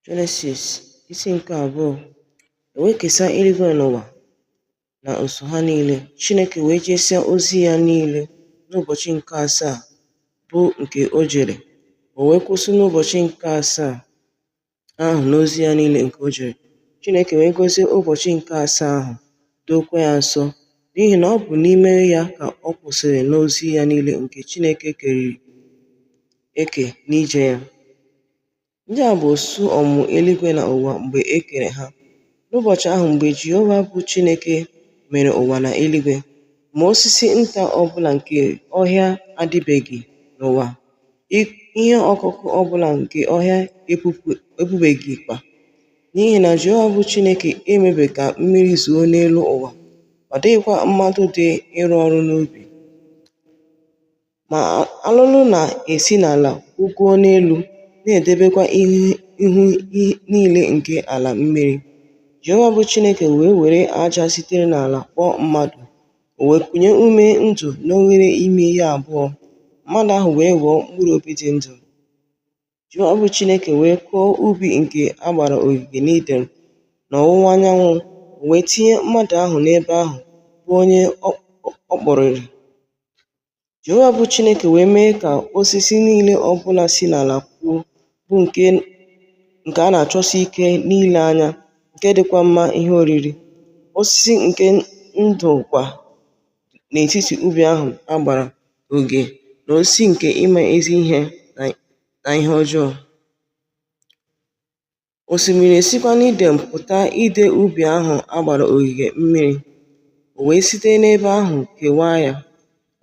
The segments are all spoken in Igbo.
Jenesis isi nke abụọ e wee kesịa eluigwe na ụwa na usuu ha niile Chineke wee jesịa ozi ya niile n'ụbọchị nke asaa bụ nke o jere o wee kwụsị n'ụbọchị nke asaa ahụ n'ozi ya niile nke o jere Chineke wee gọzie ụbọchị nke asaa ahụ dookwa ya nsọ n'ihi na ọ bụ n'ime ya ka ọ kwụsịrị n'ozi ya niile nke Chineke keriri eke n'ije ya. Ndị a bụ usoro ọmụmụ eluigwe na ụwa mgbe e kere ha. N'ụbọchị ahụ mgbe Jehova bụ Chineke mere ụwa na eluigwe, ma osisi nta ọ bụla nke ọhịa adịbeghị n'ụwa, ihe ọkụkụ ọ bụla nke ọhịa epubeghịkwa, n'ihi na Jehova bụ Chineke emebeghị ka mmiri zoo n'elu ụwa, ọ dịghịkwa mmadụ dị ịrụ ọrụ n'ubi. Ma alụlụ na-esi n'ala kwụgoo n'elu, na-edebekwa ihu niile nke ala mmiri. Jehova bụ Chineke wee were aja sitere n'ala kpụọ mmadụ, o wee kunye ume ndụ n'oghere imi ya abụọ, mmadụ ahụ wee ghọọ mkpụrụ obi dị ndụ. Jehova bụ Chineke wee kụọ ubi nke a gbara ogige n'Iden n'ọwụwa anyanwụ, o wee tinye mmadụ ahụ n'ebe ahụ, bụ onye ọ kpụrịrị. Jehova bụ Chineke wee mee ka osisi niile ọ bụla si n'ala puo, bụ nke a na-achọsi ike n'ile anya, nke dịkwa mma ihe oriri, osisi nke ndụ kwa n'etiti ubi ahụ a gbara ogige na osisi nke ịma ezi ihe na ihe ọjọọ. Osimiri esikwa n'Iden pụta ide ubi ahụ a gbara ogige mmiri, o wee site n'ebe ahụ kewaa ya,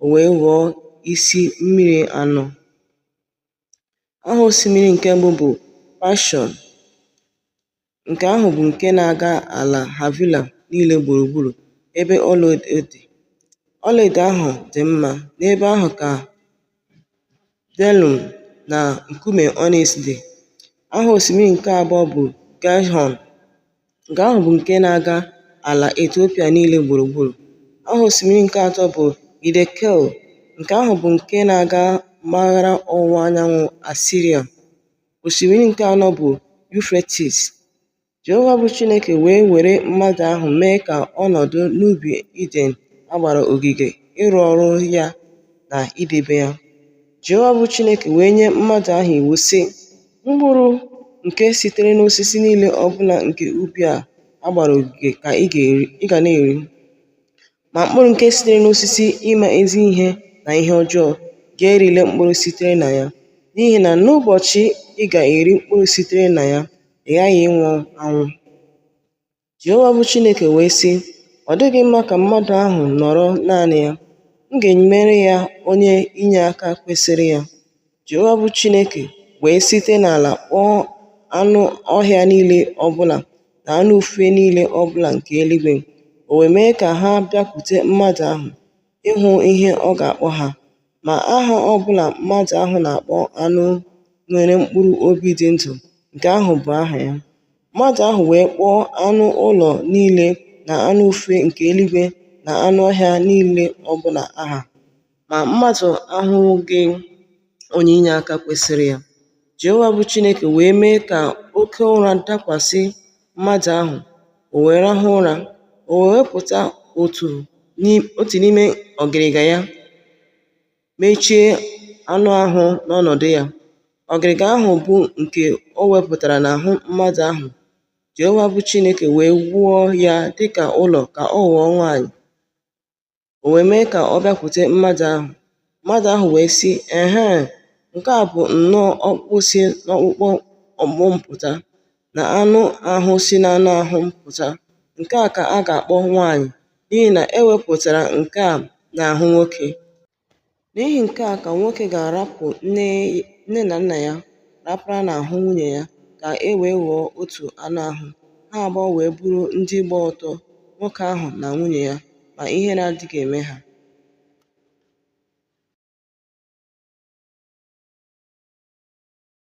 o wee ghọọ isi mmiri anọ. Aha osimiri nke mbụ bụ Paịshọn, Nke ahụ bụ nke na-aga ala Havila niile gburugburu ebe ọlaedo dị. Ọlaedo ahụ dị mma. N'ebe ahụ ka bdelium na nkume ọnịks dị. Aha osimiri nke abụọ bụ Gaịhọn. Nke ahụ bụ nke na-aga ala Etiopia niile gburugburu. Aha osimiri nke atọ bụ Hidekel. Nke ahụ bụ nke na-aga mpaghara ọwụwa anyanwụ Asiria. Osimiri nke anọ bụ Yufretis. Jehova bụ Chineke wee were mmadụ ahụ mee ka ọ nọdụ n'ubi Iden a gbara ogige ịrụ ọrụ ya na idebe ya. Jehova bụ Chineke wee nye mmadụ ahụ iwu, sị, Mkpụrụ nke sitere n'osisi niile ọ bụla nke ubi a a gbara ogige ka ị ga na-eri. Ma mkpụrụ nke sitere n'osisi ịma ezi ihe na ihe ọjọọ gị erile mkpụrụ sitere na ya, n'ihi na n'ụbọchị ị ga-eri mkpụrụ sitere na ya, ị ghaghị ịnwụ anwụ. Jehova bụ Chineke wee sị, Ọ dịghị mma ka mmadụ ahụ nọrọ naanị ya, m ga-emere ya onye inyeaka kwesịrị ya. Jehova bụ Chineke wee site n'ala kpụọ anụ ọhịa niile ọbụla na anụ ufe niile ọbụla nke eluigwe, o wee mee ka ha bịakwute mmadụ ahụ ịhụ ihe ọ ga-akpọ ha. Ma aha ọbụla mmadụ ahụ na-akpọ anụ nwere mkpụrụ obi dị ndụ, nke ahụ bụ aha ya. Mmadụ ahụ wee kpọọ anụ ụlọ niile na anụ ufe nke eluigwe na anụ ọhịa niile ọbụla aha. Ma mmadụ ahụghị onye inyeaka kwesịrị ya. Jehova bụ Chineke wee mee ka oke ụra dakwasị mmadụ ahụ, o wee rahụ ụra, o wee wepụta otu n'ime ọgịrịga ya, mechie anụ ahụ n'ọnọdụ ya. Ọgịrịga ahụ bụ nke o wepụtara n'ahụ mmadụ ahụ, Jehova bụ Chineke wee wuo ya dịka ụlọ ka ọ ghọọ nwaanyị. O wee mee ka ọ bịakwute mmadụ ahụ. Mmadụ ahụ wee sị, Ehe, nke a bụ nnọọ ọkpụkpụ si n'ọkpụkpụ ọkpụkpụ m pụta, na anụ ahụ si n'anụ ahụ m pụta. Nke a ka a ga-akpọ nwaanyị, n'ihi na e wepụtara nke a n'ahụ nwoke. N'ihi nke a ka nwoke ga-arapụ nne na nna ya rapara n'ahụ nwunye ya ka e wee ghọọ otu anụ ahụ, ha abụọ wee bụrụ ndị gba ọtọ, nwoke ahụ na nwunye ya, ma ihere adịghị eme ha.